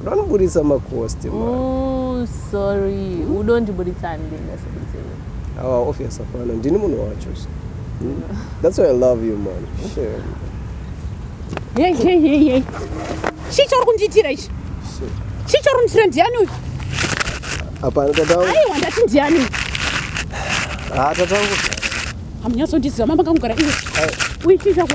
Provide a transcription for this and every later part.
Unondiburitsa makosti mm, sorry udondiburitsa handingasaburitsa awa ah, obvious hapana ndini munhu wacho hmm? that's why i love you man sure. hey, hey, hey, hey. chii chauri kundiitira ichi chii chauri kundiitira ndiani uyu hapana tatawo aiwa ndati ndiani uyu ha ah, tatawo hamunyatsondiziva mama kangugara iwe uyu chii chako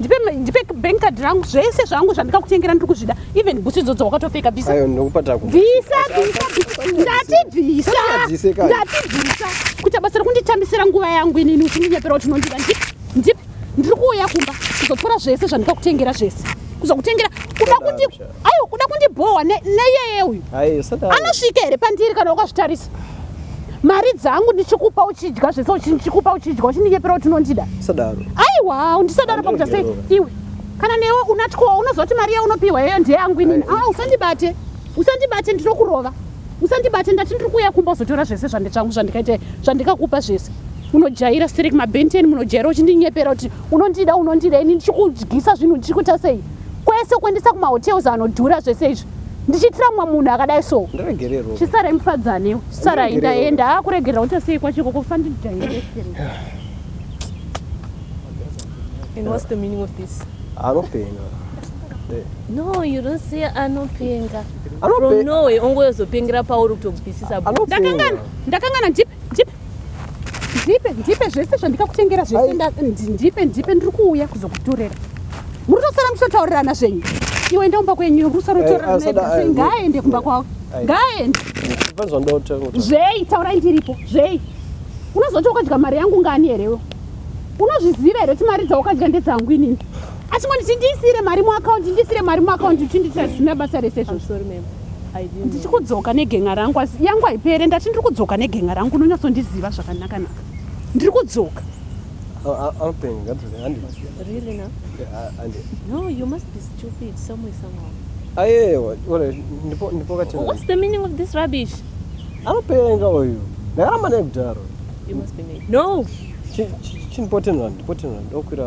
ndipe ndipe bank card rangu zvese zvangu zvandikakutengera ndiri kuzvida even bhutsu idzodzo wakatopfeka bvisa ayo ndokupa taku bvisa bvisa ndati bvisa ndati bvisa kuita basa rekunditambisira nguva yangu inini uchindinyepera kuti unondida ndip ndip ndiri kuuya kumba kuzopora zvese zvandikakutengera zvese kuzokutengera kuda kuti Ayo kuda kundibhowa neyeye uyu. Ayo saka. Anosvika here pandiri kana ukazvitarisa? Mari dzangu ndichikupa uchidya zvese uchikupa uchidya uchindinyepera kuti unondida. Sadaro. Aiwa undisadaro pakuta sei iwe. Kana newe unatyowa unozoti mari yaunopiwa yeyo ndiye yangu inini. Ah usandibate. Usandibate ndinokurova. Usandibate ndati ndiri kuuya kumba uzotora zvese zvandichangu zvandikaita zvandikakupa zvese. unojaira siri kumabhenteni munojaira uchindinyepera kuti unondida unondida ini ndichikudyisa zvinhu ndichikuita sei kwese kuendesa kumahotels anodhura zvese izvi ndichiitira mumwe munhu akadai so chisarai mufadzanewo chisarai ndaenda akuregerera kuti sei kwachiko kufandidaeanopenga no you don't say anopenga from norway ongoyozopengera pauri kutobvisisa ndakangana ndipe ndipe zvese zvandikakutengera zvese ndipe ndipe ndiri kuuya kuzokutorera muri tosara muchitotaurirana zvenyu iwe enda kumba kwenyu muri kusara muchitotaurirana eh, ngaaende kumba kwavo ngaaende zvei taurai ndiripo zvei unozoti wakadya mari yangu ngani herewo unozviziva here kuti mari dzawakadya ndedzangu inini achingonditi ndiisire mari muakaundi ndiisire mari muakaundi uchinditira zvisina basa rese zvozvo ndichiri kudzoka negenga rangu asi yangu haipere ndati ndiri kudzoka negenga rangu unonyatsondiziva zvakanaka naka ndiri kudzoka anopenga uyu ndakaramba naye kudaro chinpotenrand potenrand okwira